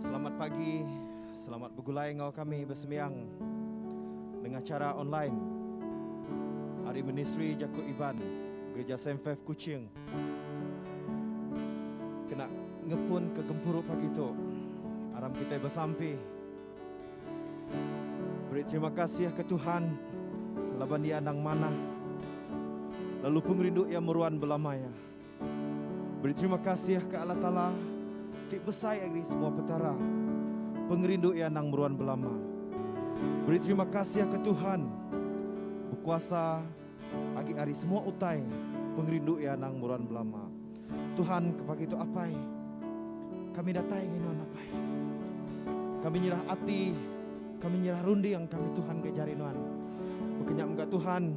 Selamat pagi, selamat begulai enggau kami besembiang nengah chara online ari Ministri Jaku Iban Gereja Saint Faith Kuching kena ngepun ke gempuru pagi tu aram kitai besampi beri terima kasih ke Tuhan laban Iya endang manah lalu pengerindu Iya meruan belama iya. Beri terima kasih ka Allah Taala ti besai ari semua petara. Pengerindu iya endang meruan belama. Beri terima kasih ka Tuhan bekuasa agi ari semua utai. Pengerindu iya endang meruan belama. Tuhan ke pagi tu Apai kami datai nginum Nuan Apai. Kami nyerah ati, kami nyerah runding kami Tuhan ke jari Nuan. Baka nya mega Tuhan.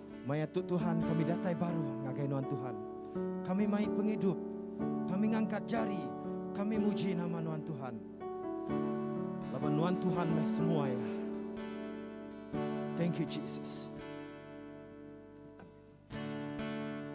Maya tu Tuhan kami datai baru ngagai nuan Tuhan. Kami mai pengidup. Kami ngangkat jari. Kami muji nama nuan Tuhan. Laban nuan Tuhan meh semua ya. Thank you Jesus.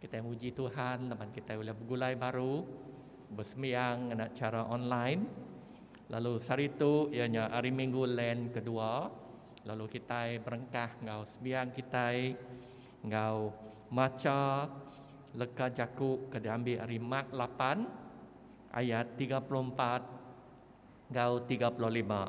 Kitai muji Tuhan laban kitai ulih begulai baru besembiang ngena chara online. Lalu sehari tu iya nya Hari Minggu Lent kedua lalu kitai berengkah enggau sembiang kitai enggau macha leka jaku ke diambil ari Mark lapan ayat tiga puluh empat enggau tiga puluh lima.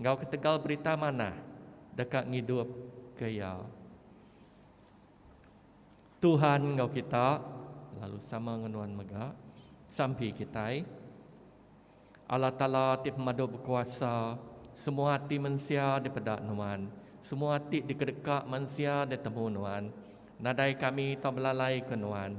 enggau ketegal berita manah deka ngidupka iya. Tuhan enggau kita lalu sama enggau nuan mega sampi kitai. Allah Taala ti pemadu bekuasa, semua ati mensia dipeda nuan, semua ati dikedeka mensia ditemu nuan. Nadai kami tau belalaika nuan.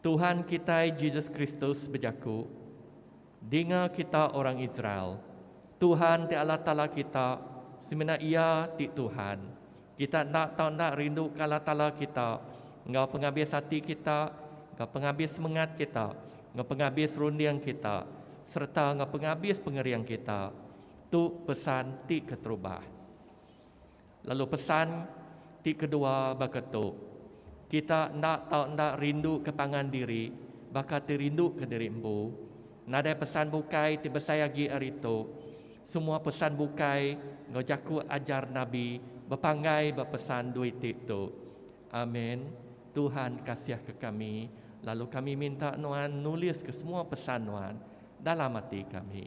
Tuhan kitai Jesus Kristus bejaku, Dinga kita orang Israel, Tuhan ti Allah Taala kita, semina Iya ti Tuhan. Kita enda tau enda rinduka Allah Taala kita enggau pengabis ati kita, enggau pengabis semengat kita, enggau pengabis runding kita, sereta enggau pengabis pengering kita. Tu pesan ti keterubah. Lalu pesan ti kedua baka tu, Kita enda tau enda rinduka pangan diri baka ti rinduka diri empu. Nadai pesan bukai ti besai agi ari tu. Semua pesan bukai enggau jaku ajar nabi bepanggai ba pesan dua iti tu. Amen. Tuhan kasihka kami, lalu kami minta nuan nuliska semua pesan nuan dalam ati kami.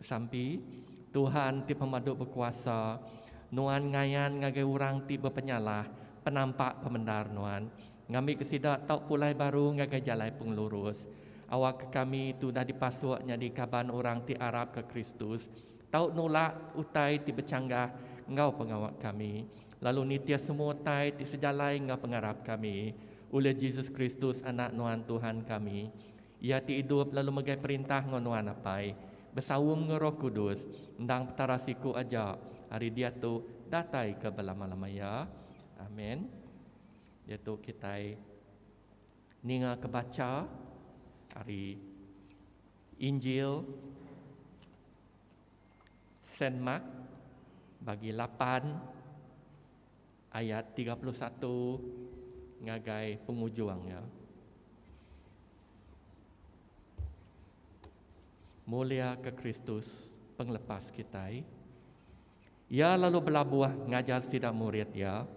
Sampi, Tuhan ti Pemadu Bekuasa, Nuan ngayan ngagai orang ti bepenyalah penampak pemendar Nuan, ngambika sida tau pulai baru ngagai jalai pengelurus. Awakka kami ti udah dipasuk nyadi kaban orang ti arapka Kristus, tau nulak utai ti bechanggah enggau pengawa kami, lalu nitih semua utai ti sejalai enggau pengarap kami, ulih Jesus Kristus Anak Nuan Tuhan kami, Iya ti idup lalu megai perintah enggau Nuan Apai, besaum enggau Roh Kudus, endang Petara siku aja ari diatu datai ke belama-lama iya. Amen. Diatu kitai ninga ke bacha ari Injil Saint Mark bagi lapan. Ayat tiga puluh satu ngagai pengujung iya. Muliaka Kristus, Pengelepas kitai. Iya lalu belabuh ngajar sida murid iya,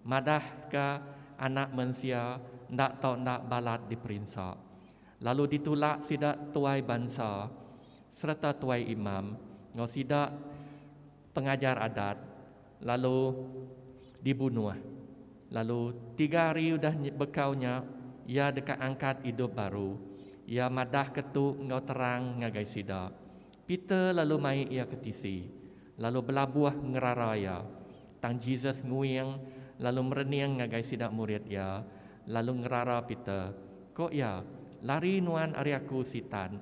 madahka Anak Mensia enda tau enda balat diperinsa, lalu ditulak sida tuai bansa sereta tuai imam enggau sida Pengajar adat lalu dibunuh lalu tiga hari udah bekau nya iya deka angkat idup baru. Iya madah ke tu enggau terang ngagai sida. Peter lalu mai iya ke tisi lalu belabuh ngerara iya. Tang Jesus nguing lalu merening ngagai sida murid iya lalu ngerara Peter. Ko iya, Lari nuan ari aku, Sitan!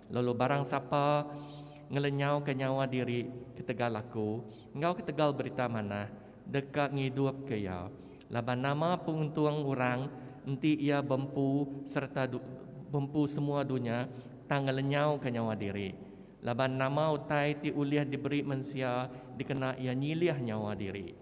Lalu barang sapa ngelenyauka nyawa diri ketegal Aku enggau ketegal Berita Manah, deka ngidupka iya. Laban nama peuntung orang enti iya bempu sereta bempu semua dunya tang ngelenyauka nyawa diri? Laban nama utai ti ulih diberi mensia dikena iya nyilih nyawa diri?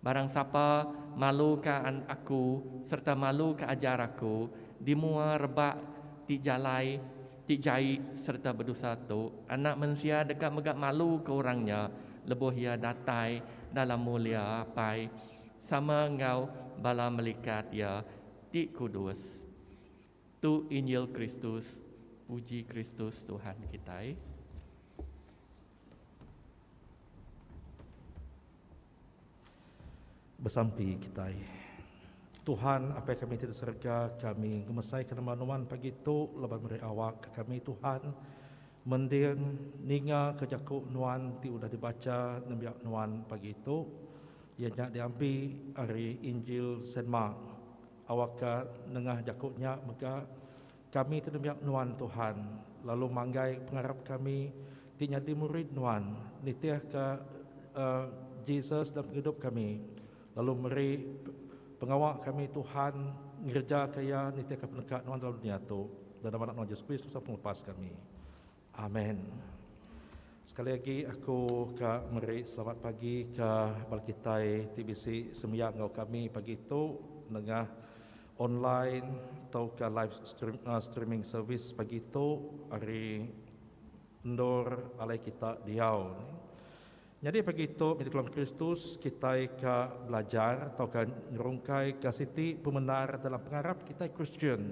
Barang sapa maluka Aku sereta maluka ajar Aku, dimua rebak ti jalai, ti jai sereta bedosa tu, Anak Mensia deka mega maluka orang nya lebuh Iya datai dalam mulia Apai sama enggau bala melikat Iya ti kudus. Tu Injil Kristus. Puji Kristus Tuhan kitai. Besampi kitai. Tuhan, Apai kami ti di serega, kami ngemesaika nama Nuan pagi tu laban meri awak ke kami Tuhan mending ningaka jaku Nuan ti udah dibacha nembiak Nuan pagi tu, iya nya diampi ari Injil Saint Mark. Awakka nengah jaku nya mega Kami ti nembiak Nuan, Tuhan, lalu manggai pengarap kami ti nyadi murid Nuan nitihka Jesus dalam pengidup kami, lalu meri pengawa kami, Tuhan, ngerejaka iya nitihka peneka Nuan dalam dunia tu. Dalam nama Anak Nuan Jesus Kristus Sang Pengelepas kami. Amen. Sekali agi aku ka meri selamat pagi ka bala kitai ti bisi sembiang enggau kami pagi tu nengah online tauka live streaming service pagi tu ari endur alai kita diau. Nyadi pagi tu mih dikelong Kristus, kitai ka belajar tauka nyerungkaika siti pemendar dalam pengarap kitai Kristian.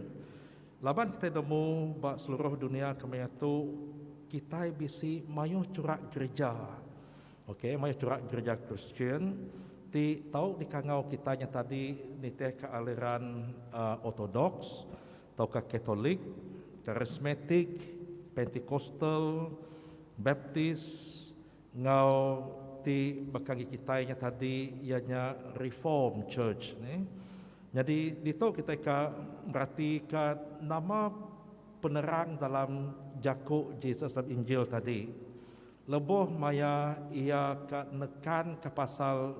Laban kitai nemu ba seluruh dunia kemaya tu kitai bisi mayuh churak gerija, ok mayuh churak gerija Kristian ti tau dikangau kitai nyatadi nitihka aliran Ortodoks, tauka Katolik, Karismatik, Pentikostal, Baptis, enggau ti baka agi kitai nya tadi iya nya Reformed Church. Nyadi ditu kitai ka meratika nama penerang dalam jaku Jesus dalam Injil tadi. Lebuh maya iya ka nekanka pasal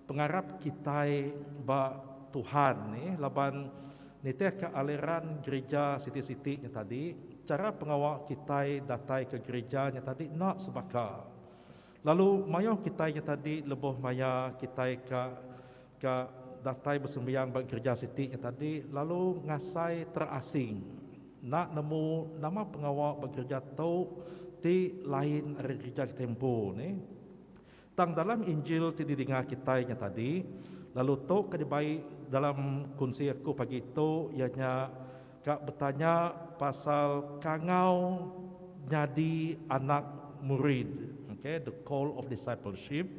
pengarap kitai ba Tuhan ni laban nitihka aliran gerija siti-siti nya tadi, chara pengawa kitai datai ke gerija nya tadi enda sebaka. Lalu mayuh kitai nya tadi lebuh maya kitai ka Ka datai besembiang ba gereja siti nya tadi lalu ngasai terasing enda nemu nama pengawa ba gereja tu ti lain ari gereja kitai empu ni. Tang dalam Injil ti didinga kitai nya tadi lalu tu ka dibai dalam kunsi aku pagi tu iya nya ka betanya pasal kangau nyadi anak murid. Okay, the call of discipleship.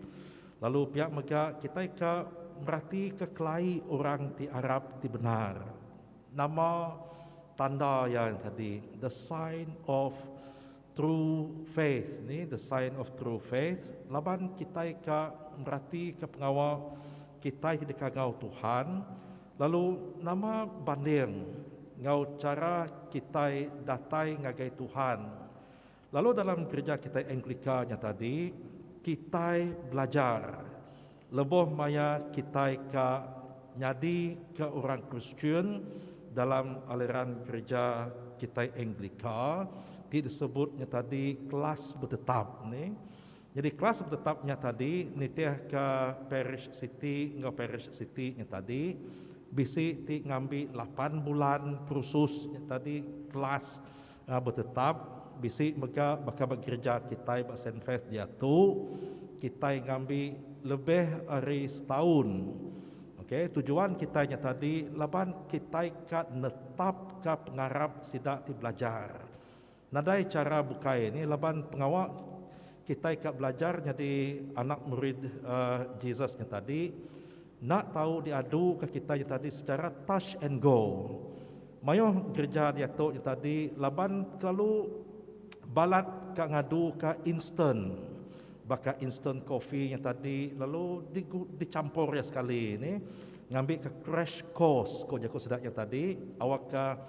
Lalu pia mega kitai ka meratika kelai orang ti arap ti bendar. Nama tanda iya tadi the sign of true faith ni the sign of true faith laban kitai ka meratika pengawa kitai ti deka enggau Tuhan lalu nama banding enggau chara kitai datai ngagai Tuhan. Lalu dalam gerija kitai Anglika nya tadi, kitai belajar lebuh maya kitai ka nyadi ke orang Kristian dalam aliran gerija kitai Anglika ti disebut nya tadi kelas betetap ni. Nyadi kelas betetap nya tadi nitihka parish siti enggau parish siti nya tadi. Bisi ti ngambi lapan bulan kursus nya tadi kelas Nya betetap, bisi mega baka ba gereja kitai ba Sainfest diatu, kitai ngambi lebih ari setaun. Ok, tujuan kitai nya tadi laban kitai ka netapka pengarap sida ti belajar. Nadai chara bukai nih laban pengawa kitai ka belajar nyadi anak murid Jesus nya tadi, Enda tau diaduka kitai nya tadi secara touch and go. Mayuh gereja diatu nya tadi laban kelalu balat ka ngaduka instant. Baka instant coffee nya tadi lalu dichampur iya sekali nih ngambika crash course ku jaku sida nya tadi awakka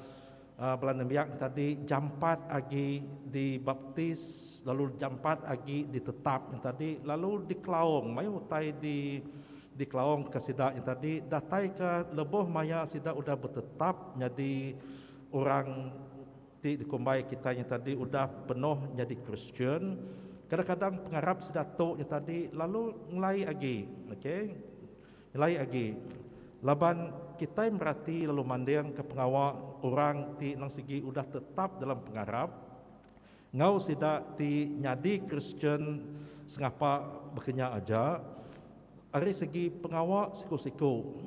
Bala nembiak tadi jampat agi dibaptis lalu jampat agi ditetap nya tadi lalu dikelaung mayuh utai di dikelaung ka sida nya tadi datai ka lebuh maya sida udah betetap nyadi orang ti dikumbai kitai nya tadi udah penuh nyadi Kristian kadang-kadang pengarap sida tu nya tadi lalu ngelai agi okay Nyelai agi, laban kitai merati lalu mandingka pengawa orang ti endang sigi udah tetap dalam pengarap enggau sida ti nyadi Kristian sengapa baka nya aja, ari segi pengawa siku-siku.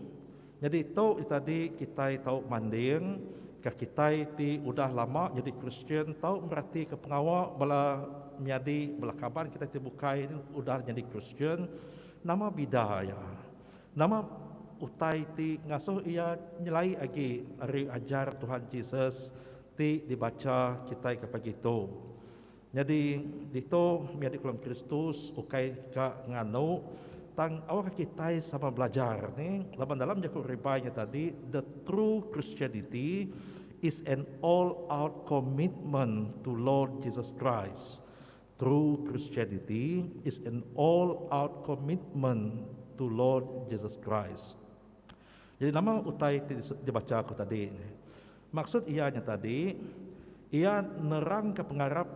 Nyadi tu nya tadi kitai tau manding ka kitai ti udah lama nyadi Kristian tau meratika pengawa bala menyadi bala kaban kitai ti bukai udah nyadi Kristian. Nama bida iya? Nama utai ti ngasuh iya nyelai agi ari ajar Tuhan Jesus ti dibacha kitai ke pagi tu? Nyadi ditu mih adik Kulim Kristus ukai ka nganu tang aurka kitai sama belajar ni laban dalam jaku Ribai nya tadi the true Christianity is an all out commitment to Lord Jesus Christ. True Christianity is an all out commitment to Lord Jesus Christ. Jadi nama utai ti dibacha aku tadi nih? Maksud iya nya tadi, iya nerangka pengarap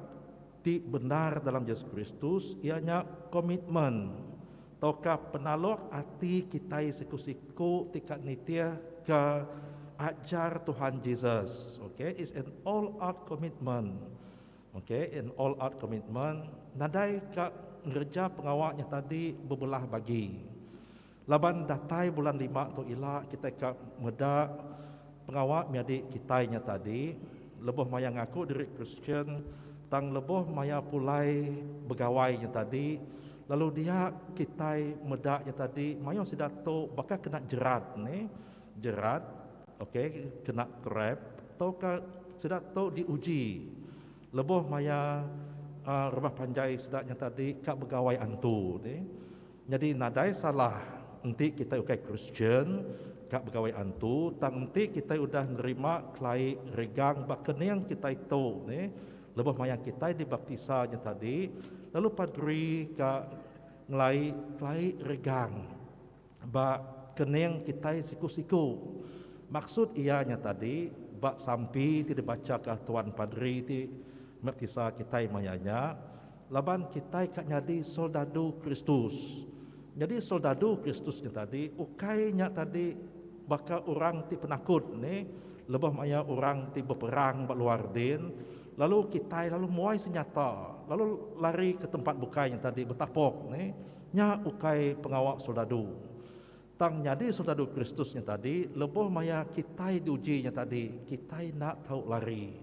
ti bendar dalam Jesus Kristus iya nya komitmen tauka penaluk ati kitai siku-siku ti ka nitihka ajar Tuhan Jesus. Okay, it's an all out commitment. Okay and all out commitment nadai ka ngereja pengawa nya tadi bebelah bagi. Laban datai bulan lima tu ila kitai ka meda pengawa menyadi kitai nya tadi lebuh maya ngaku diri Kristian tang lebuh maya pulai begawai nya tadi lalu dia kitai meda nya tadi mayuh sida tu baka kena jerat ne jerat Oke kena krep tauka sida tu diuji lebuh maya rumah panjai sida nya tadi ka begawai antu ti. Nyadi nadai salah enti kitai ukai Kristian ka begawai antu tang enti kitai udah nerima kelai regang ba kening kitai tu ti lebuh maya kitai dibaptisa nya tadi lalu padri ka ngelai kelai regang Ba kening kitai siku-siku. Maksud iya nya tadi, ba sampi ti dibachaka Tuan Padri ti merkisa kitai maya nya, laban kitai ka nyadi soldadu Kristus. Nyadi soldadu Kristus nya tadi ukai nya tadi baka orang ti penakut ne lebuh maya orang ti beperang ba luar din, lalu kitai lalu muai senyata lalu lari ke tempat bukai nya tadi betapok ne. Nya ukai pengawa soldadu. Tang nyadi soldadu Kristus nya tadi lebuh maya kitai diuji nya tadi, kitai enda tau lari.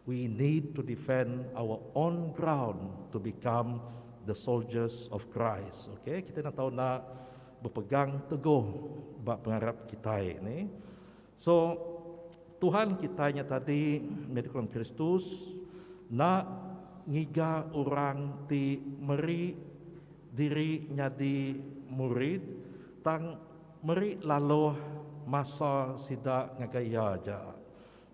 We need to defend our own ground to become the soldiers of Christ. Ok, kitai enda tau enda bepegang teguh ba pengarap kitai ni. So, Tuhan kitai nya tadi, meh dikelan Kristus, enda ngiga orang ti meri diri nyadi murid tang meri laluh masa sida ngagai Iya aja.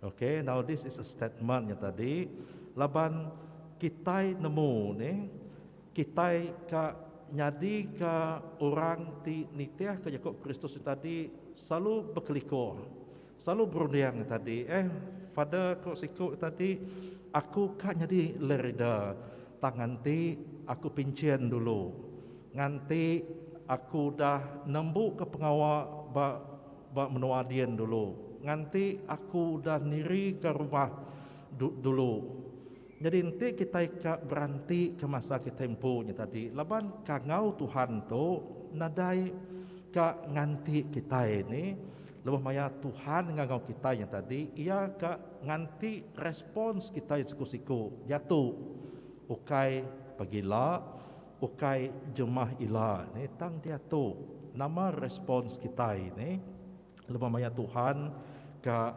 Okay, now this is a statement nya tadi laban kitai nemu nih. Kitai ka nyadika orang ti nitihka jaku Kristus nya tadi selalu bekelikur, selalu berunding nya tadi. Eh, Father ko siku nya tadi, Aku ka nyadi lerida tang nganti aku pinchin dulu, nganti aku udah nembuka pengawa ba ba menua din dulu, nganti aku udah nirika rumah du dulu. Nyadi enti kitai ka beranti ke masa kitai empu nya tadi laban kangau Tuhan tu nadai ka nganti kitai ni lebuh maya Tuhan ngangau kitai nya tadi iya ka nganti respons kitai siku-siku diatu ukai pegila ukai jemah ila ni tang diatu nama respons kitai ni lebuh maya Tuhan ka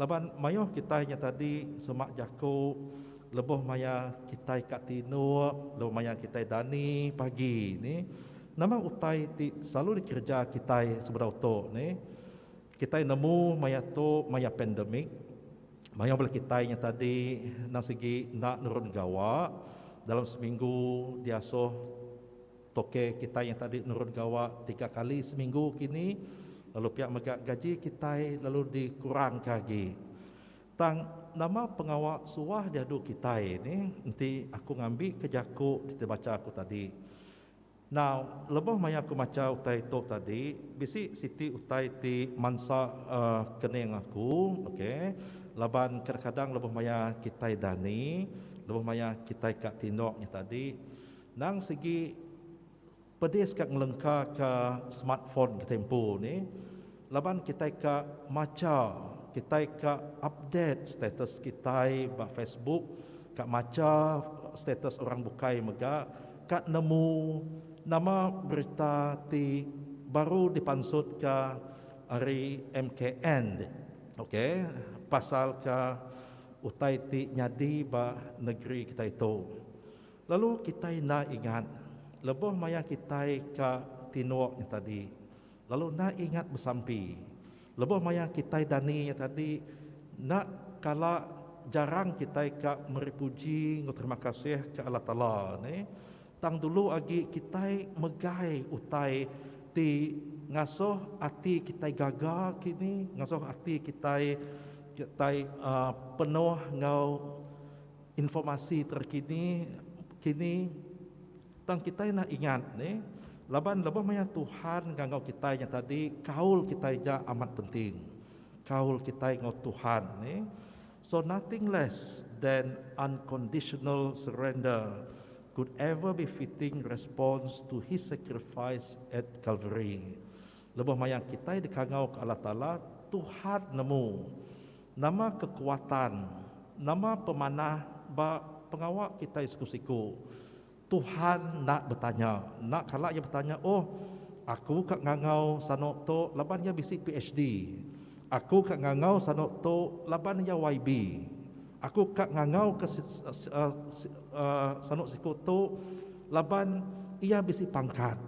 Laban mayuh kitai nya tadi semak jaku lebuh maya kitai ka tinuk, lebuh maya kitai dani pagi ni, nama utai ti selalu dikereja kitai sebedau tu ni. Kitai nemu maya tu maya pandemic, mayuh bala kitai nya tadi endang sigi enda nurun gawa dalam seminggu diasuh. Toke kitai yang tadi nurun gawa tiga kali seminggu kini lalu pia mega gaji kitai lalu dikurangka agi. Tang nama pengawa suah diadu kitai ni enti aku ngambika jaku ti bacha aku tadi. Nau lebuh maya aku macha utai tu tadi bisi siti utai ti mansa ke ning aku ok laban kadang-kadang lebuh maya kitai dani lebuh maya kitai ka tindok nya tadi Nang sigi pedis ka ngelengka ka smartphone ketempu ni laban kitai ka macha, kitai ka update status kitai ba Facebook, ka macha status orang bukai mega ka nemu nama berita ti baru dipansut ka ari MKN ok pasal ka utai ti nyadi ba negeri kitai tu. Lalu kitai enda ingat lebuh maya kitai ka tinduk nya tadi, lalu enda ingat besampi lebuh maya kitai dani nya tadi, enda kala jarang kitai ka meri puji enggau terima kasih ke Allah Taala nih, tang dulu agi kitai megai utai ti ngasuh ati kitai gaga kini, ngasuh ati kitai kitai uhh penuh enggau. Informasi terkini kini tang kitai enda ingat ne laban lebuh maya Tuhan ngagau kitai nya tadi kaul kitai ja amat penting. Kaul kitai enggau Tuhan ne so nothing less than unconditional surrender could ever be fitting response to his sacrifice at Calvary. Lebuh maya kitai dikangau ke Allah Taala Tuhan nemu. Nama kekuatan, nama pemanah ba pengawa kitai siku-siku? Tuhan enda betanya. Enda kala Iya betanya, Oh, aku ka ngangau sano tu laban iya bisi PHD. Aku ka ngangau sano tu laban iya YB. Aku ka ngangau ke sano siku tu laban iya bisi pangkat.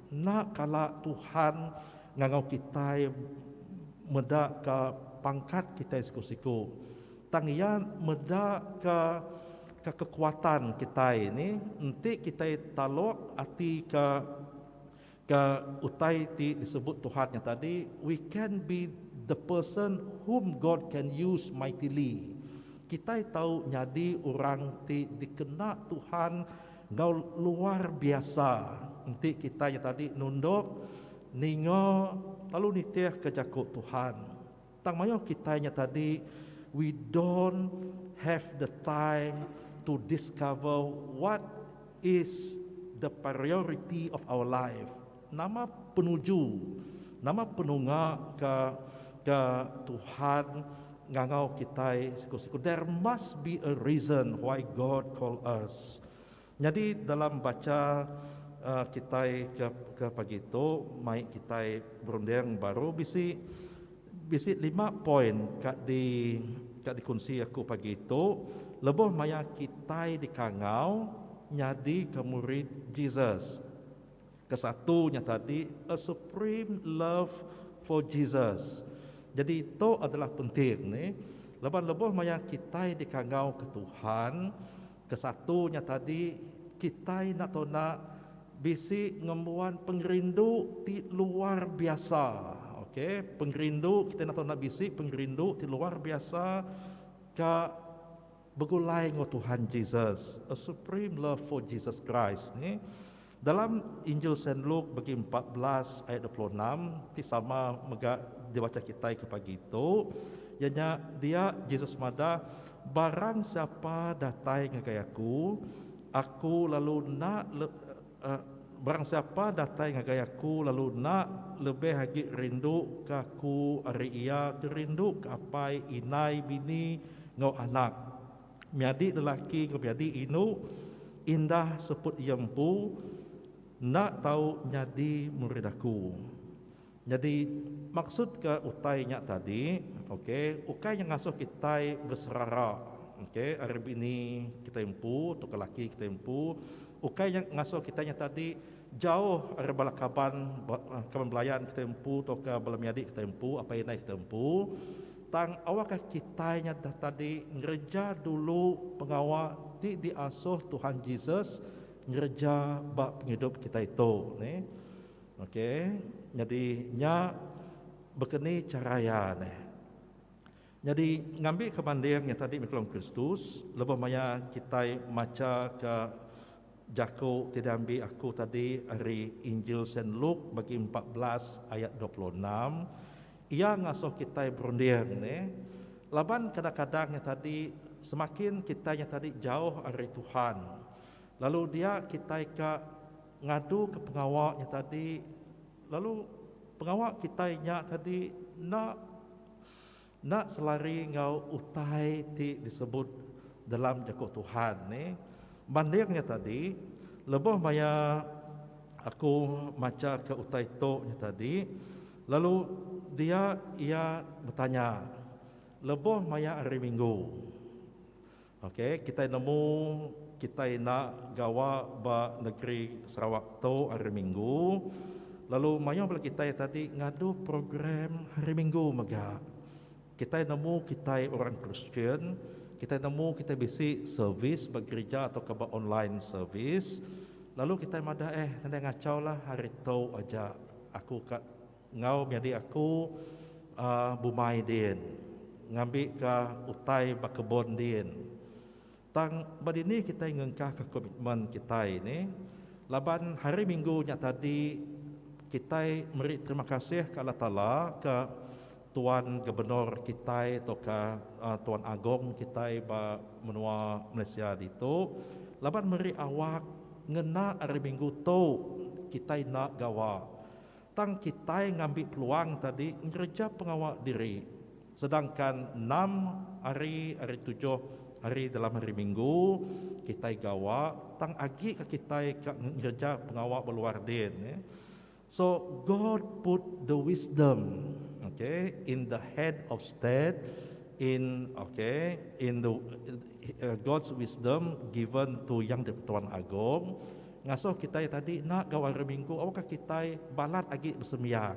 Enda kala Tuhan ngangau kitai meda ka pangkat kitai siku-siku, tang Iya meda ka ka kekuatan kitai ni enti kitai talok ati ka ka utai ti disebut Tuhan nya tadi, We can be the person whom God can use mightily. Kitai tau nyadi orang ti dikena Tuhan. Enggau luar biasa enti kitai nya tadi nundok ninga lalu nitihka jaku Tuhan. Tang mayuh kitai nya tadi we don't have the time to discover what is the priority of our life. Nama penuju, nama penunga ke ke Tuhan ngangau kitai siku-siku. There must be a reason why God call us. Nyadi dalam bacha uh, kitai ke ke pagi tu mai kitai berunding baru bisi bisi lima poin ka di ka dikunsi aku pagi tu lebuh maya kitai dikangau nyadika murid Jesus. Kesatu nya tadi a supreme love for Jesus. Jadi tu adalah penting ni laban lebuh maya kitai dikangauka Tuhan kesatu nya tadi kitai enda tau enda bisi ngembuan pengerindu ti luar biasa okay pengerindu kitai enda tau enda bisi pengerindu ti luar biasa ka Begulai enggau Tuhan Jesus, A Supreme Love for Jesus Christ, ni, dalam Injil Saint Luke begi empat belas ayat dua puluh enam, ti sama mega dibacha kitai ke pagi tu, iya nya, dia, Jesus madah, Barang siapa datai ngagai aku, aku lalu enda le. A. Barang siapa datai ngagai Aku lalu enda lebih agi rinduka Aku ari iya ke rinduka apai, indai, bini, enggau anak, miadi lelaki enggau miadi indu, indah seput iya empu, enda tau nyadi murid Aku. Nyadi, maksud ke utai nya tadi, ok, ukai nya ngasuh kitai beserara, ok, ari bini kitai empu tauka laki kitai empu, ukai nya ngasuh kitai nya tadi jauh ari bala kaban, kaban belayan kitai empu tauka bala menyadi kitai empu, apai indai kitai empu, tang awakka kitai nya tadi ngereja dulu pengawa ti diasuh Tuhan Jesus ngereja ba pengidup kitai tu, neh. Okey, nyadi nya bekeni chara iya ne. Nyadi ngambika banding nya tadi mih Kelong Kristus, lebuh maya kitai machaka jaku ti diambi aku tadi ari Injil Saint Luke bagi empat belas ayat dua puluh enam, iya ngasuh kitai berunding ne laban kadang-kadang nya tadi semakin kitai nya tadi jauh ari Tuhan lalu dia kitai ka. Ngaduka pengawa nya tadi, lalu pengawa kitai nya tadi enda enda selari enggau utai ti disebut dalam Jaku Tuhan ne. Banding nya tadi, lebuh maya aku machaka utai tu nya tadi, lalu dia iya betanya, Lebuh maya hari Minggu, Ok kitai nemu kitai enda gawa ba negeri Sarawak tu hari minggu lalu mayuh bala kitai tadi ngadu program hari minggu mega. Kitai nemu kitai orang Kristian, kitai nemu kitai bisi servis ba gerija atau ka ba online servis lalu kitai madah eh nadai ngachau lah hari tu aja aku ka Enggau nyadi aku bumai din, ngambika utai ba kebun din. Tang ba dini kitai ngengkahka komitmen kitai nih laban Hari Minggu nya tadi kitai meri terima kasih ke Allah Taala ke Tuan Gubernur kitai tauka Tuan Agong kitai ba menua Malaysia ditu laban meri awak ngena Hari Minggu tu kitai enda gawa. Tang kitai ngambi peluang tadi ngereja pengawa diri sedangkan enam hari ari tujuh hari dalam hari minggu kitai gawa tang agi ka kitai ka ngereja pengawa ba luar din ya. So God put the wisdom okay in the head of state in okay in the God's wisdom given to Yang di-Pertuan Agong. Ngasuh kitai tadi enda enggau Hari Minggu awakka kitai balat agi besembiang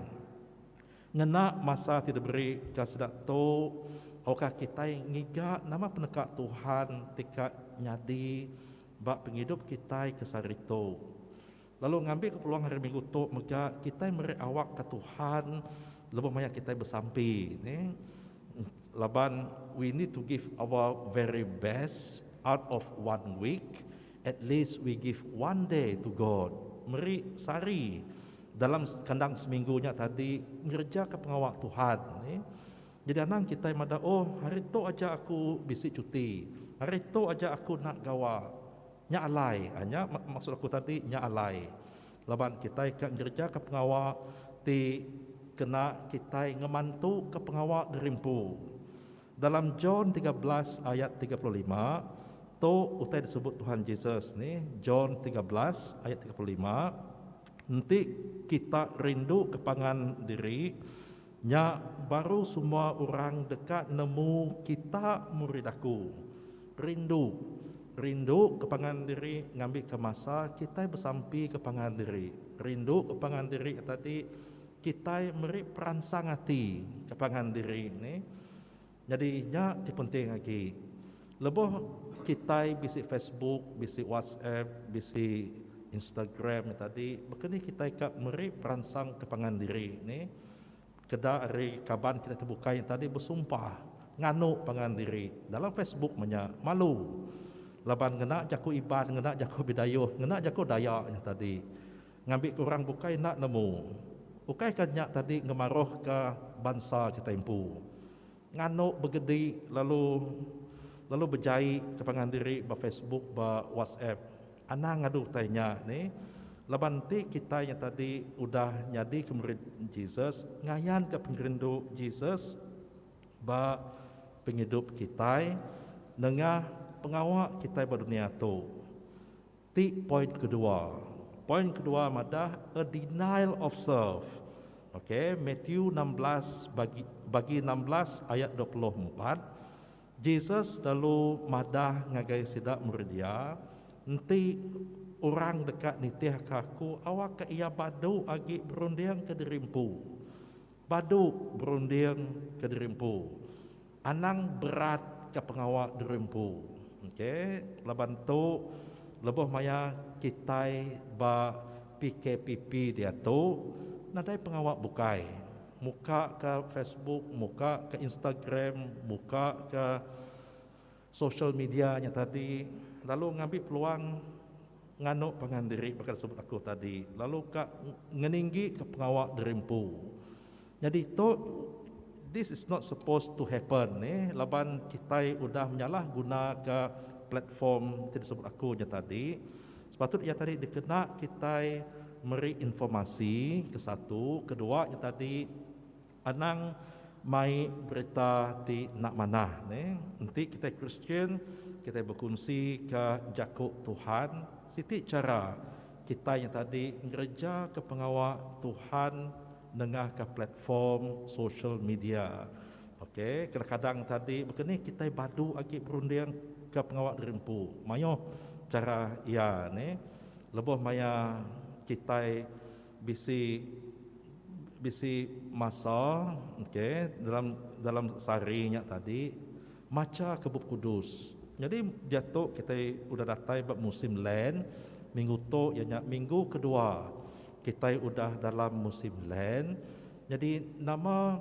ngena masa ti diberi ka sida tu awakka kitai ngiga nama peneka Tuhan ti ka nyadi ba pengidup kitai ke sehari tu. Lalu ngambika peluang Hari Minggu tu mega kitai meri awak ka Tuhan lebuh maya kitai besampi ne laban we need to give our very best out of one week At least we give one day to God, meri sehari dalam kandang seminggu nya tadi ngerejaka pengawa Tuhan ni. Jadi anang kitai madah oh hari tu aja aku bisi cuti, hari tu aja aku enda gawa. Nya alai, nya maksud aku tadi nya alai laban kitai ka ngerejaka pengawa ti kena kitai ngemantuka pengawa geri empu. Dalam John tiga belas ayat tiga puluh lima, tu utai disebut Tuhan Jesus ni, John tiga belas ayat tiga puluh lima, Enti kita rinduka pangan diri, nya baru semua orang deka nemu kita murid aku. Rindu. Rinduka pangan diri ngambika masa kitai besampika pangan diri. Rinduka pangan diri tadi. Kitai meri peransang ati ke pangan diri ni nyadi nya ti penting agi. Lebuh kitai bisi Facebook, bisi WhatsApp, bisi Instagram nya tadi, baka ni kitai ka meri peransang ke pangan diri ni keda ari kaban kitai ti bukai nya tadi besumpah nganu pangan diri dalam Facebook mah nya malu laban ngena jaku Iban, ngena jaku Bidayuh, ngena jaku Dayak nya tadi. Ngambika orang bukai enda nemu, ukaika nya tadi ngemaruhka bansa kitai empu nganu begedi lalu lalu bejai ke pangan diri ba Facebook ba WhatsApp. Anang ngadu utai nya ni laban enti kitai nya tadi udah nyadika murid Jesus, ngayanka pengerindu Jesus ba pengidup kitai nengah pengawa kitai ba dunia tu. Ti point kedua. Point kedua madah a denial of serve. Ok, Matthew enam belas bagi bagi enam belas ayat dua puluh empat, Jesus lalu madah ngagai sida murid iya, Enti orang deka nitihka aku awakka iya badu agi berunding kediri empu. Badu berunding kediri empu. Anang berat ka pengawa diri empu. Ok laban tu lebuh maya kitai ba PKPP diatu nadai pengawa bukai muka ka Facebook muka ka Instagram muka ka Social media nya tadi lalu ngambi peluang nganu pangan diri baka disebut aku tadi lalu ka ngeninggi ka pengawa diri empu. Nyadi tu this is not supposed to happen neh laban kitai udah menyalah guna ka platform ti disebut aku nya tadi. Sepatut iya tadi dikena kitai meri informasi ke satu, ke dua nya tadi. Anang mai berita ti enda manah ne. Enti kitai Kristian, kitai bekunsika jaku Tuhan, siti chara kitai nya tadi ngerejaka pengawa Tuhan nengahka platform sosial media. Ok, kadang-kadang tadi baka ni kitai badu agi berundingka pengawa diri empu mayuh chara iya ne lebuh maya kitai. Bisi bisi masa ke dalam dalam sehari nya tadi macha ke Bup Kudus. Nyadi diatu kitai udah datai ba musim Lent, minggu tu iya nya minggu kedua kitai udah dalam musim Lent. Nyadi nama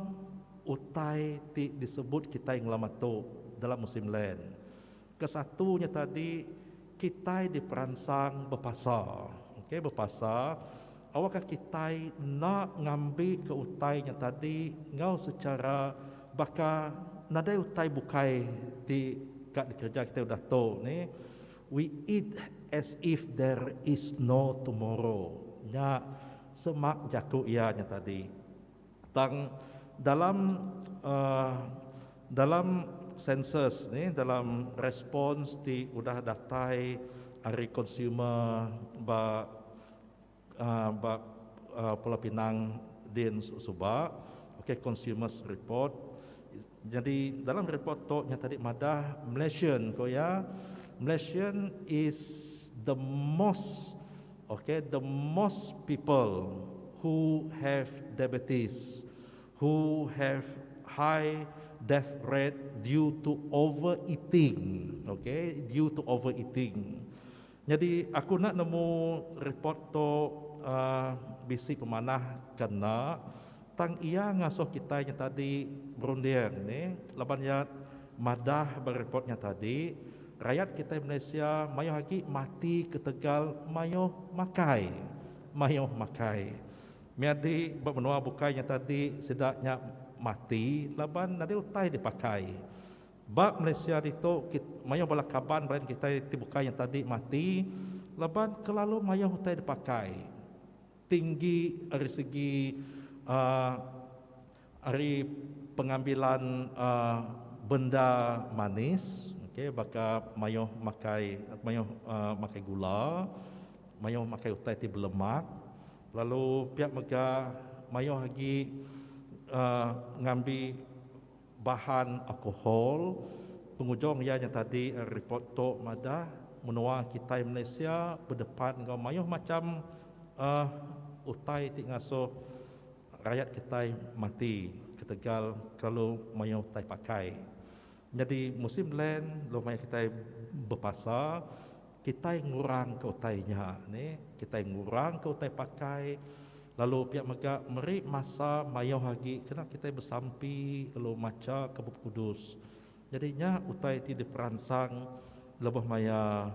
utai ti disebut kitai ngelamatu dalam musim Lent? Kesatu nya tadi kitai diperansang bepasa. Okey bepasa awakka kitai enda ngambika utai nya tadi enggau sechara baka nadai utai bukai ti ka dikereja kitai udah tu ni we eat as if there is no tomorrow nya semak jaku iya nya tadi. Tang dalam dalam sensus nih dalam respons ti udah datai ari konsumer ba ba Pulau Pinang din suba, okay, consumer's report. Nyadi dalam report tu nya tadi madah Malaysian ko iya Malaysian is the most ok the most people who have diabetes who have high death rate due to over eating ok due to over eating Nyadi aku enda nemu report tu bisi pemanah ke enda tang iya ngasuh kitai nya tadi berunding ni laban iya madah ba report nya tadi rayat kitai Malaysia mayuh agi mati ketegal mayuh makai mayuh makai meh agi ba menua bukai nya tadi sida nya mati laban nadai utai dipakai Ba Malaysia ditu kit mayuh bala kaban brain kitai ti bukai nyang tadi mati laban kelalu mayuh utai dipakai tinggi ari segi aaa ari pengambilan aaa benda manis okey baka mayuh makai mayuh aaa makai gula mayuh makai utai ti belemak lalu pia mega mayuh agi aaa ngambi Bahan alkohol. Pengujung iya nya tadi ripot tu madah menua kitai Malaysia bedepan enggau mayuh macham utai ti ngasuh rayat kitai mati ketegal kelalu mayuh utai pakai. Nyadi musim land lalu maya kitai bepasa. Kitai ngurangka utai nya ne, kitai ngurangka utai pakai lalu pia mega meri masa mayuh agi kena kitai besampi lalu machaka Bup Kudus. Nyadi nya utai ti diperansang lebuh maya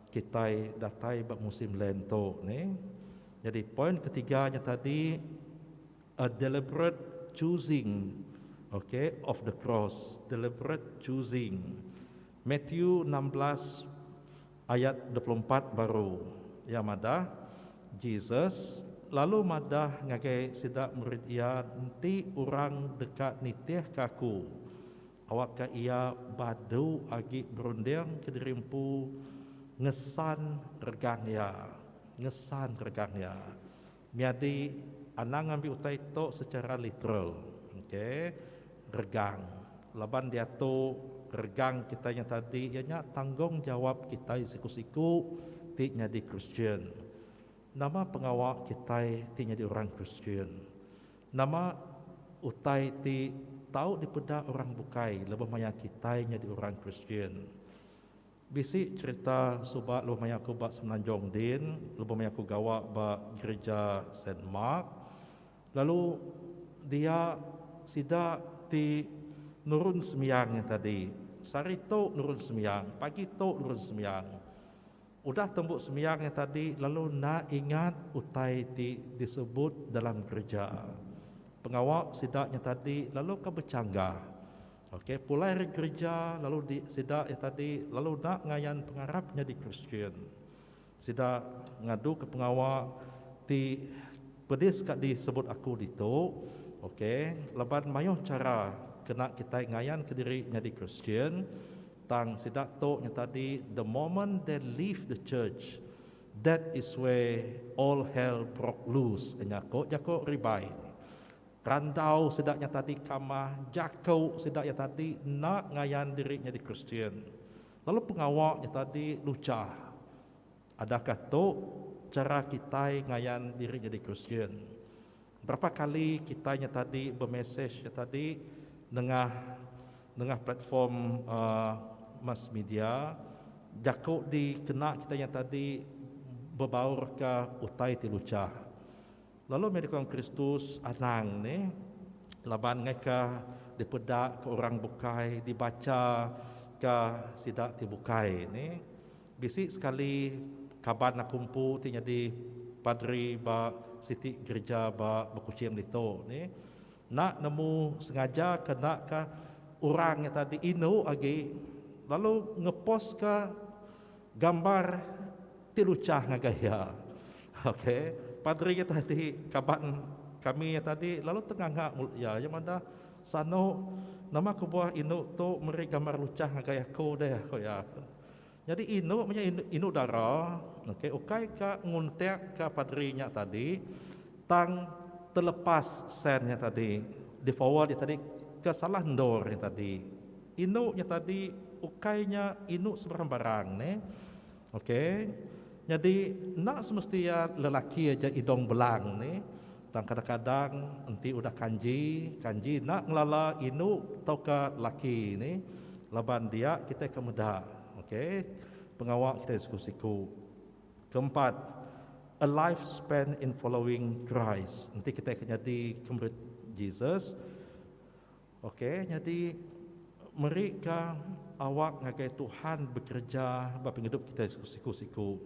kitai datai ba musim Lent tu ne. Nyadi poin ketiga nya tadi a deliberate choosing okay of the cross, deliberate choosing. Matthew enam belas ayat dua puluh empat baru iya madah, Jesus lalu madah ngagai sida murid iya enti orang deka nitihka aku awakka iya badu agi berunding kediri empu ngesan regang iya ngesan regang iya. Nyadi, anang ngambi utai tu secara literal. Ok. Regang. Laban diatu, regang kitai nya tadi iya nya tanggungjawap kitai siku-siku ti nyadi Kristian. Nama pengawa kitai ti nyadi orang Kristian? Nama utai ti tau dipeda orang bukai lebuh maya kitai nyadi orang Kristian? Bisi cerita suba lebuh maya aku ba Semenanjung din, lebuh maya aku gawa ba Gereja Saint Mark. Lalu dia sida ti nurun sembiang nya tadi. Sehari tu nurun sembiang, pagi tu nurun sembiang. Udah tembu sembiang nya tadi lalu enda ingat utai ti disebut dalam gereja. Pengawa sida nya tadi lalu ke bechanggah. Ok, pulai ari gerija lalu di sida iya tadi lalu enda ngayan pengarap nyadi Kristian. Sida ngaduka pengawa ti pedis ka disebut aku ditu, ok, laban mayuh chara kena kitai ngayanka diri nyadi Kristian, tang sida tu nya tadi the moment they leave the church, that is where all hell broke loose nya ku jaku Ribai. Randau sida nya tadi kamah jaku sida iya tadi enda ngayan diri nyadi Kristian, lalu pengawa nya tadi lucah. Adakah tu chara kitai ngayan diri nyadi Kristian? Berapa kali kitai nya tadi bemesej nya tadi nengah nengah platform uhh mass media jaku dikena kitai nya tadi bebaurka utai ti lucah. Lalu meh dikong Kristus anang ne laban ngaika dipeda ke orang bukai dibacha ke sida ti bukai ne. Bisi sekali kaban aku empu ti nyadi padri ba siti gerija ba Bekuching ditu ne enda nemu sengaja ke enda ka orang nya tadi indu agi lalu ngepost ka. Gambar ti luchah ngagai iya. Ok. Padri iya tadi kaban kami iya tadi lalu tenganga mulut iya. Iya madah, Sanu, nama kebuah indu tu meri gambar luchah ngagai aku deh, ku iya. Nyadi indu meh iya indu dara. Ok. Ukai ka nguntik ka padri nya tadi. Tang telepas send nya tadi, di forward nya tadi ke salah endur nya tadi. Indu nya tadi ukai nya indu sebarang barang neh. Ok. Nyadi enda semesti iya lelaki aja idong belang nih. Tang kadang kadang enti udah kanji, kanji enda ngelala indu tauka laki nih. Laban dia kitai ke meda. Ok. Pengawa kitai siku siku. Keempat, A life spent in following Christ. Enti kitai ke nyadi ke murid Jesus, ok, nyadi meri ka awak ngagai Tuhan bekereja ba pengidup kitai siku-siku.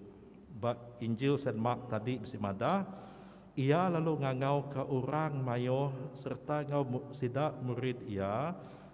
Ba Injil Saint Mark tadi bisi madah, Iya lalu ngangau ka orang maioh serta enggau sida murid Iya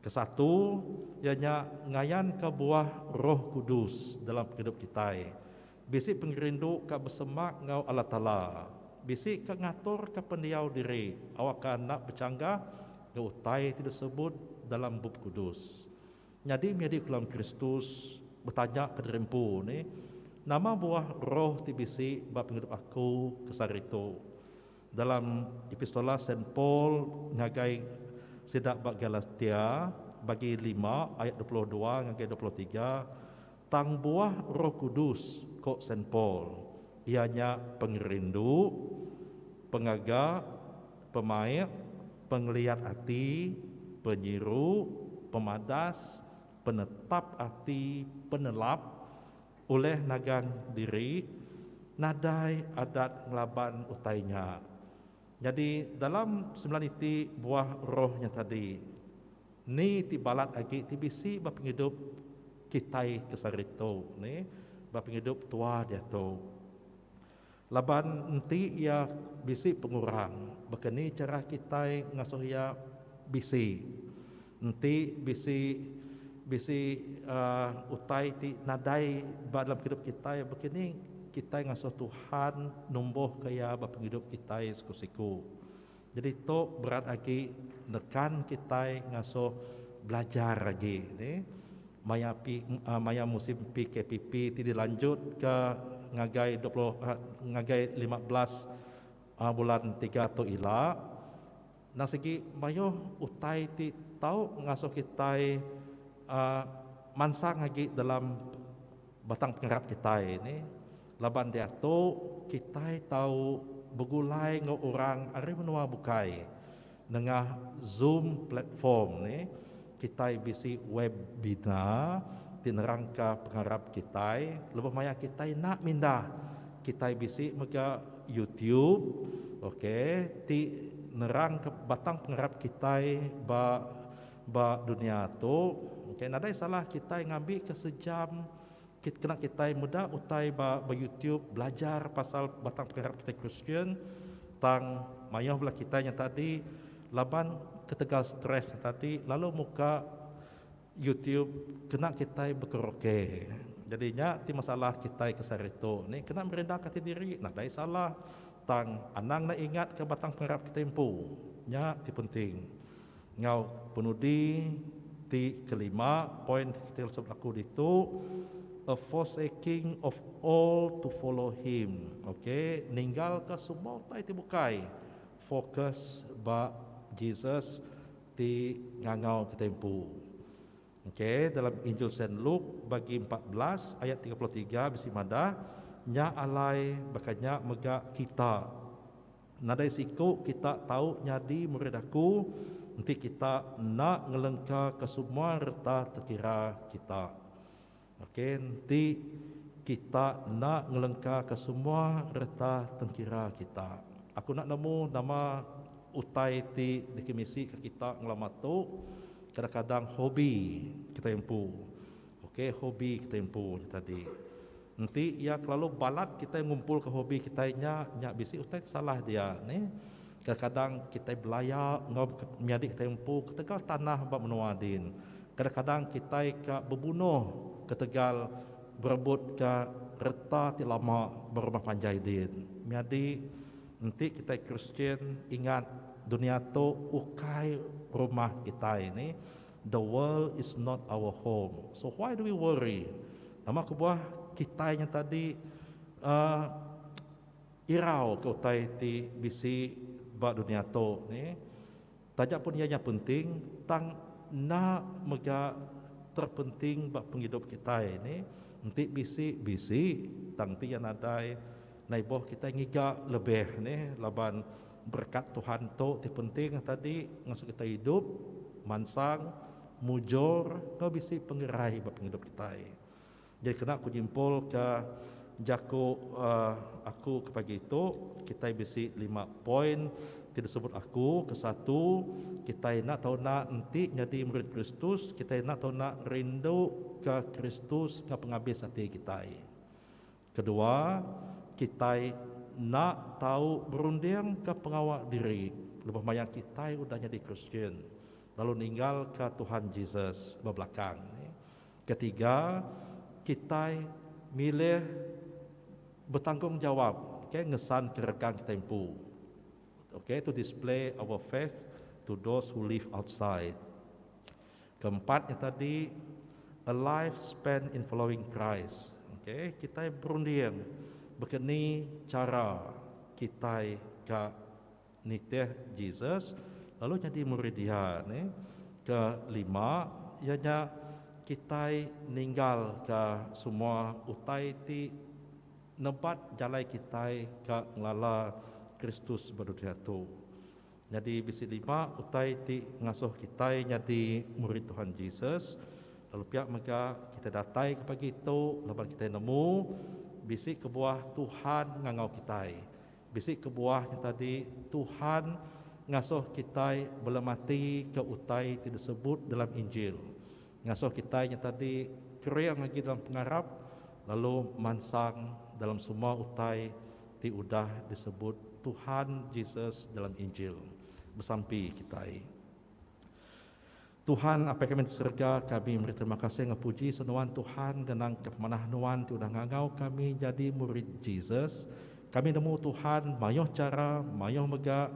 Kesatu, iya nya ngayanka buah Roh Kudus dalam pengidup kitai. Bisi pengerindu ka besemak enggau Allah Taala, bisi ka ngaturka pendiau diri awakka anak bechanggah enggau utai ti disebut dalam Bup Kudus. Nyadi media Kulam Kristus, betanyaka diri empu nih, Nama buah Roh ti bisi ba pengidup aku kesaritu? Dalam Epistola Saint Paul ngagai sida ba Galatia, bagi lima, ayat dua puluh dua ngagai dua puluh tiga, tang buah Roh Kudus, ko Saint Paul, iya nya pengerindu, pengaga, pemaik, pengeliat ati, penyiru, pemadas, penetap ati, penelap, ulih nagang diri nadai adat ngelaban utai nya. Nyadi dalam sembilan iti buah roh nya tadi, ni ti balat agi ti bisi ba pengidup kitai ke sehari tu, ba pengidup tua diatu? Laban enti iya bisi pengurang, baka ni chara kitai ngasuh iya bisi? Enti bisi bisi uhh utai ti nadai ba dalam pengidup kitai, baka ni kitai ngasuh Tuhan numbuhka iya ba pengidup kitai siku-siku? Jadi tu berat agi nekan kitai ngasuh belajar agi ni maya pi maya musim PKPP ti dilanjutka ngagai dua puluh ngagai lima belas bulan tiga tu ila. Endang sigi mayuh utai ti tau ngasuh kitai mansang agi dalam Batang pengarap kitai ni laban diatu kitai tau begulai enggau orang ari menua bukai nengah Zoom platform ni kitai bisi webinar ti nerangka pengarap kitai lebuh maya kitai enda mindah kitai bisi mega YouTube ok ti nerangka batang pengarap kitai ba. Ba dunia tu, ukai nadai salah kitai ngambika sejam kit kena kitai meda utai ba ba YouTube belajar pasal batang pengarap kitai Kristian, tang mayuh bala kitai nya tadi laban ketegal stress nya tadi lalu muka YouTube kena kitai bekeroke. Jadi nya ti masalah kitai ke sehari tu. Nek kena merindaka ati diri nadai salah, tang anang ne ingatka batang pengarap kitai empu. Nya ti penting. Enggau penudi ti kelima, point ti kita suah belaku ditu, a forsaking of all to follow him, okay, ninggalka semua utai ti bukai, focus ba Jesus ti ngangau kitai empu. Okay, dalam Injil Saint Luke bagi empat belas ayat tiga puluh tiga bisi madah, Nya alai baka nya mega kita. Nadai siku kita tau nyadi murid aku enti kita enda ngelengkaka semua reta tekira kita. Ok, enti kita enda ngelengkaka semua reta tengkira kita. Aku enda nemu nama utai ti dikemisika kita ngelama tu, kadang-kadang hobi kitai empu. Ok hobi kitai empu nya tadi. Enti iya kelalu balat kitai ngumpulka hobi kitai nya, nya bisi utai ke salah dia nih. Kadang-kadang kitai belaya enggau menyadi kitai empu ketegal tanah ba menua din. Kadang-kadang kitai ka bebunoh ketegal berebutka reta ti lama ba rumah panjai din. Menyadi enti kitai Kristian ingat dunia tu ukai rumah kitai nih. The world is not our home, so why do we worry? Nama kebuah kitai nyata di uhh irau ke utai ti bisi ba dunia tu ni. Taja pun iya nya penting, tang enda mega terpenting ba pengidup kitai ni. Enti bisi, bisi, tang enti iya nadai, naiboh kitai ngiga lebih nih laban Berekat Tuhan tu ti penting ata di ngasuh kitai idup mansang, mujur enggau bisi pengerai ba pengidup kitai. Jadi kena aku nyimpulka jaku aku ke pagi tu, kitai bisi lima poin ti disebut aku. Ke satu, kitai enda tau enda enti nyadi murid Kristus, kitai enda tau enda rinduka Kristus enggau pengabis ati kitai. Kedua, kitai enda tau berundingka pengawa diri lebuh maya kitai udah nyadi Kristian, lalu ninggalka Tuhan Jesus ba belakang. Ketiga, kitai milih betanggungjawab ngesanka rekan kitai empu. To display our faith to those who live outside. Keempat nya tadi a life spent in following Christ. Okay, kitai berunding baka ni chara kitai ka nitih Jesus lalu nyadi murid iya ne. Kelima iya nya kitai ninggalka semua utai ti nebat jalai kitai ka ngelala Kristus ba dunya tu. Nyadi bisi lima utai ti ngasuh kitai nyadi murid Tuhan Jesus. Lalu pia mega, kitai datai ke pagi tu laban kitai nemu bisi kebuah Tuhan ngangau kitai. Bisi kebuah nya tadi, Tuhan ngasuh kitai bela mati ke utai ti disebut dalam Injil. Ngasuh kitai nyata di kering agi dalam pengarap lalu mansang dalam semua utai ti udah disebut Tuhan Jesus dalam Injil. Besampi kitai. Tuhan, Apai kami di serega, kami meri terima kasih enggau puji senuan Tuhan ngenangka pemanah Nuan ti udah ngangau kami nyadi murid Jesus. Kami nemu Tuhan mayuh chara, mayuh mega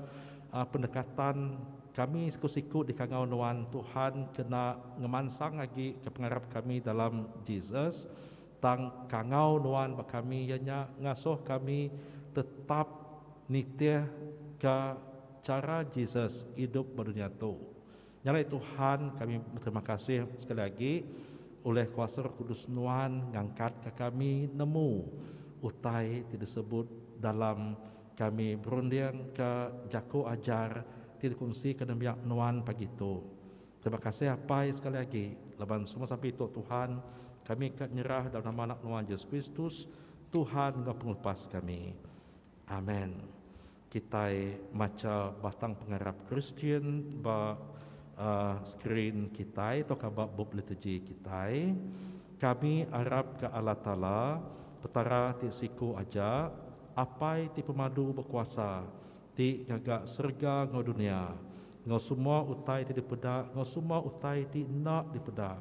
pendekatan. Kami siku-siku dikangau nuan Tuhan kena ngemansang agi ke pengarap kami dalam Jesus. Tang kangau nuan ba kami iya nya ngasuh kami tetap nitihka chara Jesus idup ba dunya tu. Nyarai Tuhan, kami beterima kasih sekali agi ulih kuasa Roh Kudus Nuan ngangkatka kami nemu utai ti disebut dalam kami berundingka jaku ajar ti dikunsika nembiak Nuan pagi tu. Terima kasih Apai sekali agi laban semua sampi tu Tuhan, kami ka nyerah dalam nama Anak Nuan Jesus Kristus, Tuhan enggau Pengelupas kami. Amen. Kitai macha batang pengarap Kristian ba skrin kitai tauka ba bup liturgi kitai. Kami arap ke Allah Taala, Petara ti siku aja, Apai ti pemadu bekuasa, ti ngaga serega enggau dunia, enggau semua utai ti dipeda enggau semua utai ti enda dipeda,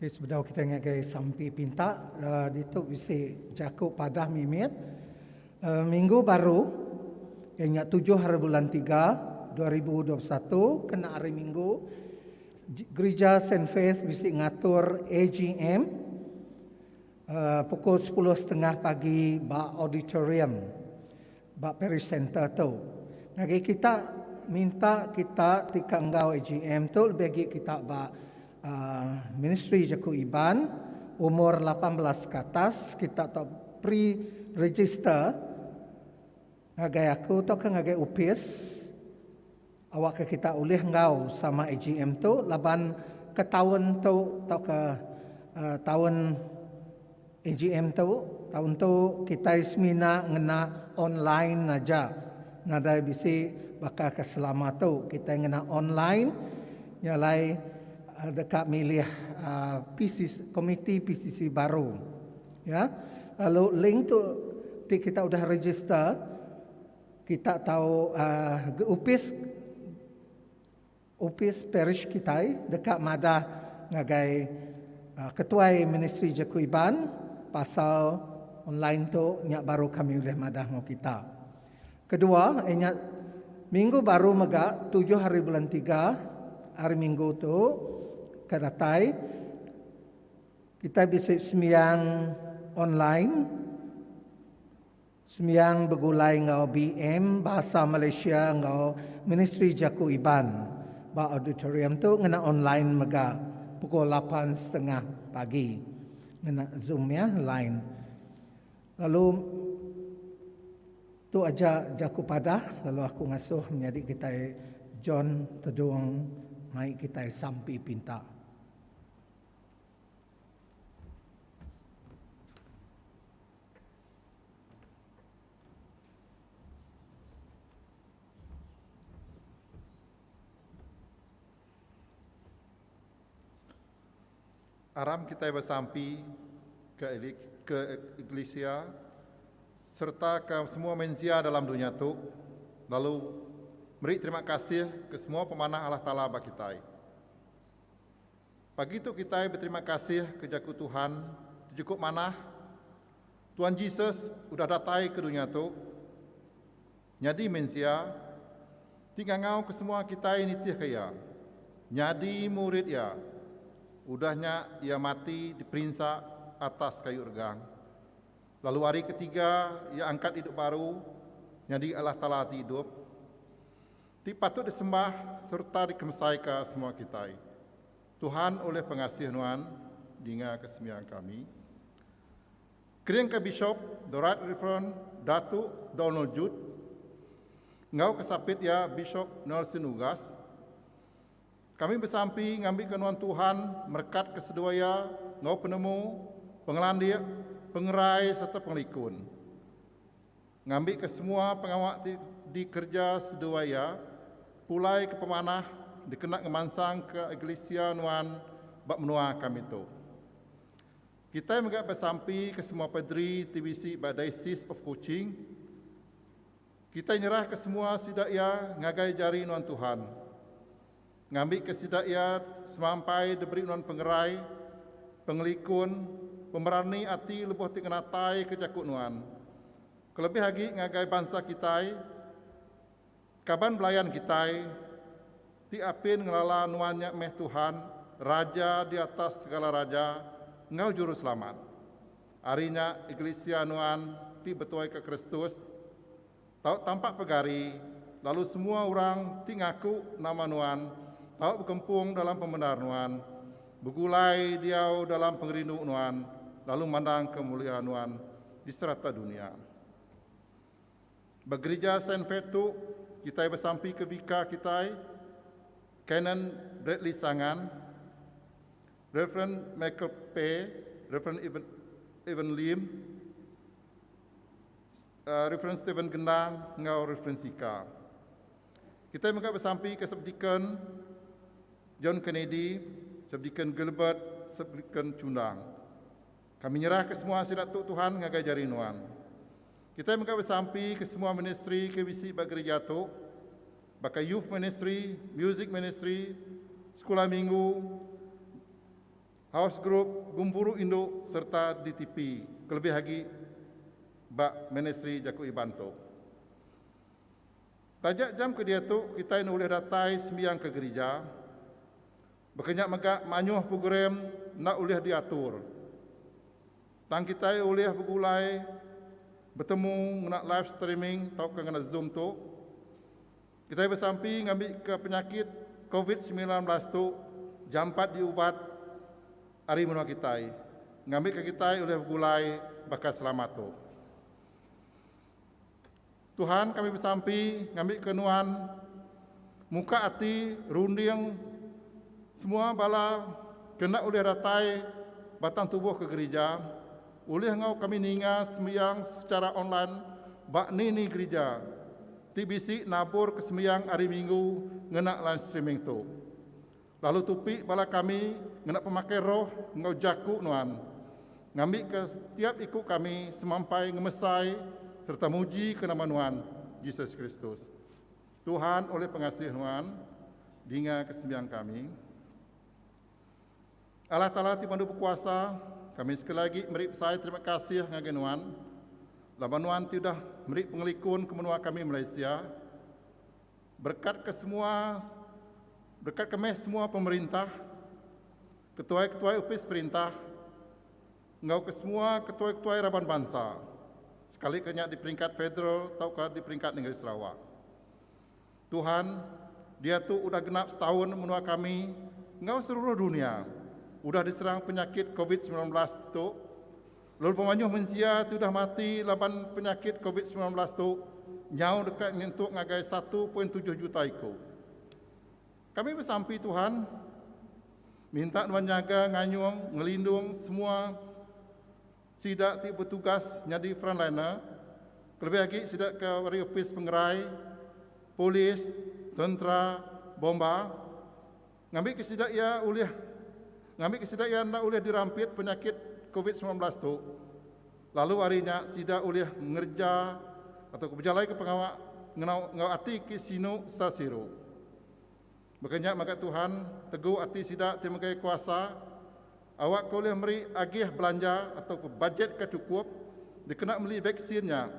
Okay, sebedau kita ngagai sampi pinta, uh, ditu bisi jaku padah mimit. Uh, minggu baru, yang nya tujuh hari bulan tiga, 2021, kena hari minggu, Gerija Saint Faith bisi ngatur AGM. Pukul sepuluh setengah pagi ba auditorium ba Paris Centre tu. Ngagai kita minta kita ti ka enggau AGM tu lebih agi kita ba Ministri Jaku Iban umur lapan belas ke atas kita tu pre register ngagai aku tauka ngagai opis. Awakka kita ulih enggau sama AGM tu laban ke taun tu tauka taun AGM tu taun tu kitai semina ngena online aja. Nadai bisi baka ke selama tu kitai ngena online nya alai deka milih PCC komiti PCC baru ya. Lalu link tu ti kita udah register. Kita tau ga opis opis parish kitai deka madah ngagai ketuai ministri jaku Iban pasal online tu nya baru kami ulih madah enggau kita. Kedua inya minggu baru mega tujuh hari bulan tiga hari minggu tu ke datai kitai bisi sembiang online. Sembiang begulai enggau BM Bahasa Malaysia enggau Ministri Jaku Iban ba auditorium tu ngena online mega pukul lapan setengah pagi ngena zoom iya line lalu tu aja jaku padah lalu aku ngasuh menyadi kitai John Tedong mai kitai sampi pinta. Aram kitai besampi ke ke eklisia sereta ke semua mensia dalam dunya tu lalu meri terima kasih ke semua pemanah Allah Taala ba kitai. Pagi tu kitai beterima kasih ke jaku Tuhan ti chukup manah. Tuhan Jesus udah datai ke dunya tu, nyadi mensia, ti ngangau ke semua kitai nitihka Iya, nyadi murid Iya. Udah nya Iya mati diperinsa atas kayu regang, lalu hari ketiga Iya angkat idup baru nyadi Allah Taala ti idup. Ti patut disembah sereta dikemesaika semua kitai. Tuhan ulih pengasih nuan dingaka sembiang kami. Keringka Bishop The Right Reverend Datuk Donald Judd enggau kesapit iya Bishop Nelson Ugas, kami besampi ngambika nuan Tuhan merekatka seduai iya enggau penemu, pengelandik, pengerai sereta pengelikun. Ngambika semua pengawa ti dikereja seduai iya, pulai ke pemanah dikena ngemansangka Eglisia nuan ba menua kami tu. Kitai mega besampi ke semua padri ti bisi ba Diocese of Kuching. Kitai nyerahka semua sida iya ngagai jari nuan Tuhan. Ngambika sida iya semampai diberi nuan pengerai, pengelikun, pemerani ati lebuh ti ngenataika jaku nuan. Kelebih agi ngagai bansa kitai, kaban belayan kitai ti apin ngelala nuan nya meh Tuhan, Raja di atas segala raja enggau Juruselamat. Ari nya, Iglesia nuan ti betuaika Kristus. tau tampak pegari lalu semua orang ti ngaku nama nuan tau bekempung dalam pemendar nuan, begulai diau dalam pengerindu nuan lalu mandangka mulia nuan di serata dunia. Ba gerija Saint Fate tu kitai besampika bika kitai, Canon Bradley Sangan, Rev. Michael Pei, Rev. Evan Lim, Referens Steven Gendang enggau Referens Sika. Kitai mega besampika Sepdikon John Kennedy, Sepdikon Gilbert, Sepdikon Chundang. Kami nyerahka semua sida tu Tuhan ngagai jari nuan. Kitai mega besampi ke semua ministri ke bisi ba gerija tu baka Youth Ministry, Music Ministry, Sekula Minggu, House Group, Gumpuru Indu sereta DTP kelebih agi ba Ministri Jaku Iban tu. Taja jam ke diatu kitai enda ulih datai sembiang ke gerija baka nya mega mayuh program enda ulih diatur tang kitai ulih begulai betemu ngena live streaming tauka ngena zoom tu. Kitai besampi ngambika penyakit Covid semilan belas tu jampat diubat ari menua kitai ngambika kitai ulih begulai baka selama tu. Tuhan kami besampi ngambika nuan muka ati runding semua bala ke enda ulih datai batang tubuh ke gerija Ulih enggau kami ninga sembiang sechara online ba ni-ni gerija ti bisi naburka sembiang Hari Minggu ngena live streaming tu. Lalu tupi bala kami ngena pemakai roh enggau jaku nuan, ngambika setiap iku kami semampai ngemesai sereta mujika nama nuan, Jesus Kristus. Tuhan ulih pengasih nuan, dingaka sembiang kami. Allah Taala ti Pandu Bekuasa, kami sekali agi meri besai terima kasih ngagai nuan laban nuan ti udah meri pengelikun ke menua kami Malaysia. Berekatka semua berekatka meh semua pemerintah, ketuai-ketuai opis perintah enggau ke semua ketuai-ketuai raban bansa sekalika nya di peringkat federal tauka di peringkat nengeri Sarawak. Tuhan, diatu udah genap setaun menua kami enggau seluruh dunya udah diserang penyakit covid semilan belas tu lalu pemanyuh mensia ti udah mati laban penyakit covid semilan belas tu nyau deka nyentuk ngagai satu poin tujuh juta iku. Kami besampi Tuhan, minta nuan nyaga nganyung ngelindung semua Sida ti betugas nyadi frontliner, kelebih agi sida ke ari opis pengerai, polis, tentera, bomba, ngambika sida iya ulih ngambika sida iya enda ulih dirampit penyakit Covid semilan belas tu lalu ari nya sida ulih ngereja atau bejalaika pengawa enggau ati ke sinu sa siru. Baka nya mega Tuhan tegu ati sida ti megai kuasa awakka ulih meri agih belanja atau bajet ke chukup dikena meli vaksin nya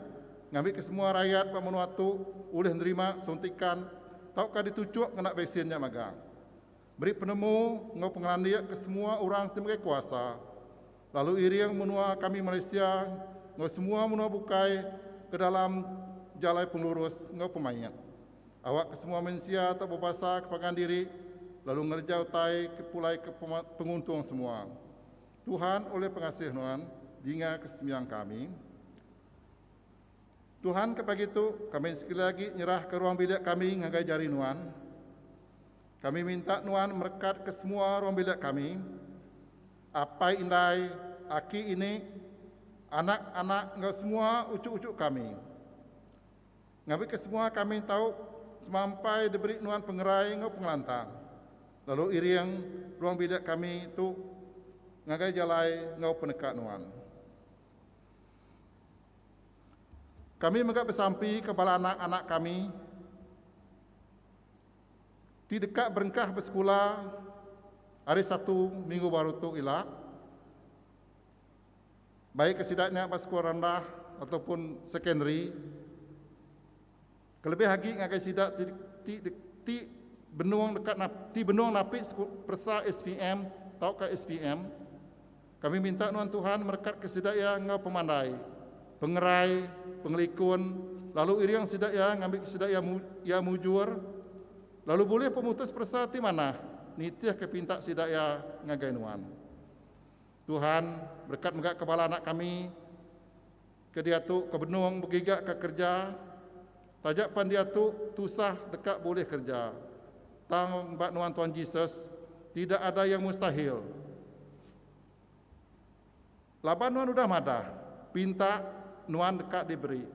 ngambika semua rayat ba menua tu ulih nerima suntikan tauka dituchuk ngena vaksin nya magang meri penemu enggau pengelandik ke semua orang ti megai kuasa lalu iring menua kami Malaysia enggau semua menua bukai ke dalam jalai pengelurus enggau pemaik, awak ke semua mensia tak bebasa ke pangan diri lalu ngereja utai ke pulai ke penguntung semua. Tuhan ulih pengasih nuan dinga ke sembiang kami. Tuhan ke pagi tu kami sekali agi nyerahka ruang bilik kami ngagai jari Nuan. Kami minta Nuan merekatka semua ruang bilik kami, apai indai, aki ini, anak-anak enggau semua uchu-uchu kami. Ngambika semua kami tau semampai diberi Nuan pengerai enggau pengelantang, lalu iring ruang bilik kami tu ngagai jalai enggau peneka Nuan. Kami mega besampika bala anak-anak kami ti deka berengkah besekula ari Satu minggu baru tu ila, baik ke sida nya ba sekula rendah ataupun sekondari. Kelebih agi ngagai sida ti ti ti benung deka nap ti benung napi peresa SPM tauka SPM, kami minta nuan Tuhan merekatka sida iya enggau pemandai, pengerai, pengelikun, lalu iring sida iya ngambika sida iya iya mujur, lalu bulih pemutus peresa ti manah nitihka pinta sida iya ngagai nuan. Tuhan, berekat mega ke bala anak kami Kediatu ke benung begiga ke kerja taja pan diatu tusah deka bulih kerja tang ba nuan Tuan Jesus tidak ada yang mustahil laban nuan udah madah pinta nuan deka diberi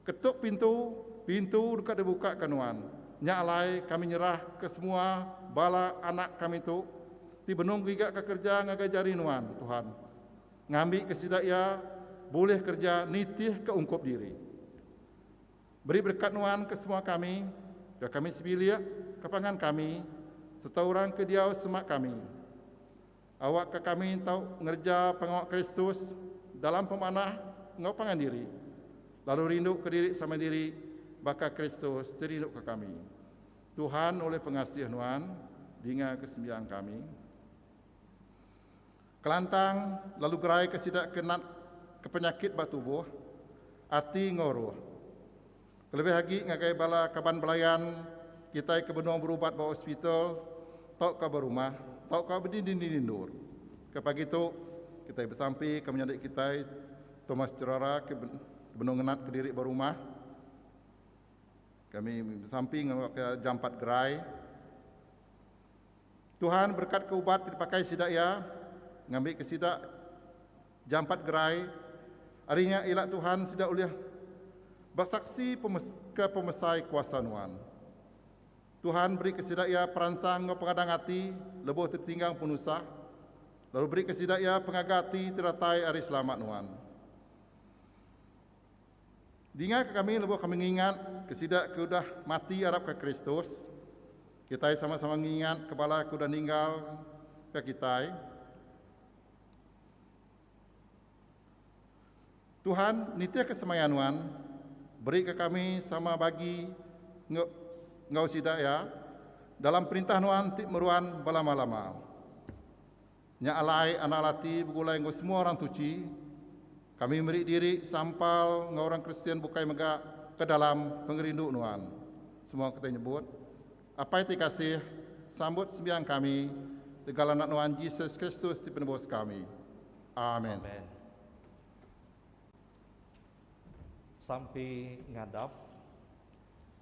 ketuk pintu pintu deka dibuka ke nuan nya alai kami nyerah ke semua bala anak kami tu ti benung giga ke kerja ngagai jari nuan Tuhan. ngambika sida iya bulih kereja nitihka ungkup diri. Beri berekat nuan ke semua kami, ke kami sebilik, ke pangan kami, sereta orang ke diau semak kami. Awakka kami tau ngereja pengawa Kristus dalam pemanah enggau pangan diri, lalu rinduka diri sama diri baka Kristus ti rinduka kami. Tuhan ulih pengasih nuan, dingaka sembiang kami. Kelantang lalu geraika sida ke natka penyakit ba tubuh, ati enggau roh. Kelebih agi ngagai bala kaban belayan kitai ke benung berubat ba hospital tauka ba rumah tauka ba dinding-dinding endur. Ke pagi tu, kitai besampi ke menyadi kitai Thomas Gerara ke benung ngenatka diri ba rumah. Kami besampi ngaga ke jampat gerai. Tuhan berekatka ubat ti dipakai sida iya ngambika sida jampat gerai. Ari nya ila Tuhan sida ulih besaksi ke pemesai kuasa Nuan. Tuhan berika sida iya peransang enggau pengadang ati lebuh tetinggang penusah, lalu berika sida iya pengaga ati ti datai ari selamat Nuan. Dinga ke kami lebuh kami ngingat ke sida ke udah mati arap ke Kristus, kitai sama-sama ngingat ke bala ke udah ninggal ke kitai. Tuhan nitih ke semaya nuan, beri ke kami sama bagi enggau sida iya dalam perintah nuan ti meruan belama-lama. Nya alai anak laki begulai enggau semua orang suci, kami meri diri sampal enggau orang Kristian bukai mega ke dalam pengerindu nuan. Semua kitai nyebut, Apai ti kasih, sambut sembiang kami legal Anak nuan Jesus Kristus ti penebus kami. Amen. Amen. Sampi ngadap.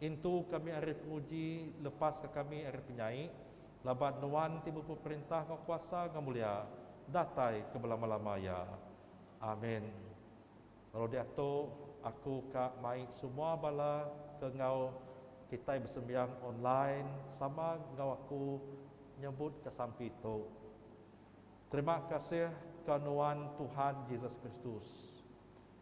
Intu kami ari penguji, lepaska kami ari penyai, laban Nuan ti bepu perintah enggau kuasa enggau mulia, datai ke belama-lama iya. Amin. Lalu diatu, aku ka mai semua bala ke enggau kitai besembiang online sama enggau aku nyembutka sampi tu. Terima kasih ka Nuan Tuhan Jesus Kristus.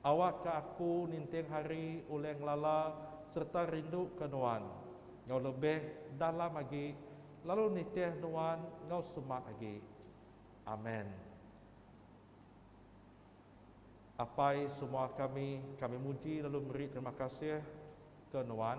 Awakka aku ninting hari ulih ngelala sereta rinduka Nuan enggau lebih dalam agi lalu nitih Nuan enggau semak agi. Amen. Apai semua kami, kami muji lalu meri terima kasih ke Nuan.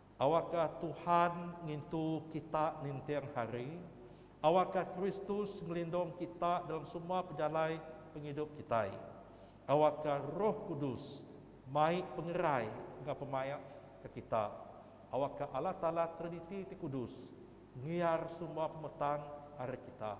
Awakka Tuhan ngintu kita ninting hari. Awakka Kristus ngelindung kita dalam semua pejalai pengidup kitai. Awakka Roh Kudus mai pengerai enggau pemaik ke kita. Awakka Allah Taala Triniti ti kudus ngiar semua pemetang ari kita.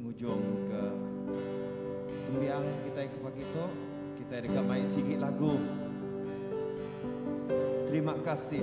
ngujungka sembiang kitai ke pagi tu, kitai deka mai sigi lagu Terima Kasih.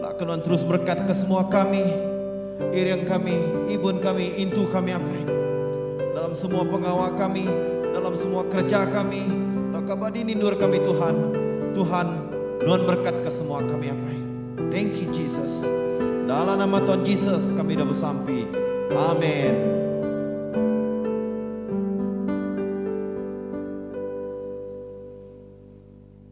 Nda ke nuan terus berekat ke semua kami, iring kami, ibun kami, intu kami apai. Dalam semua pengawa kami, dalam semua kereja kami, tauka ba dini endur kami Tuhan. Tuhan, nuan berekat ke semua kami apai. Thank you Jesus. Dalam nama Tuhan Jesus kami udah besampi. Amen.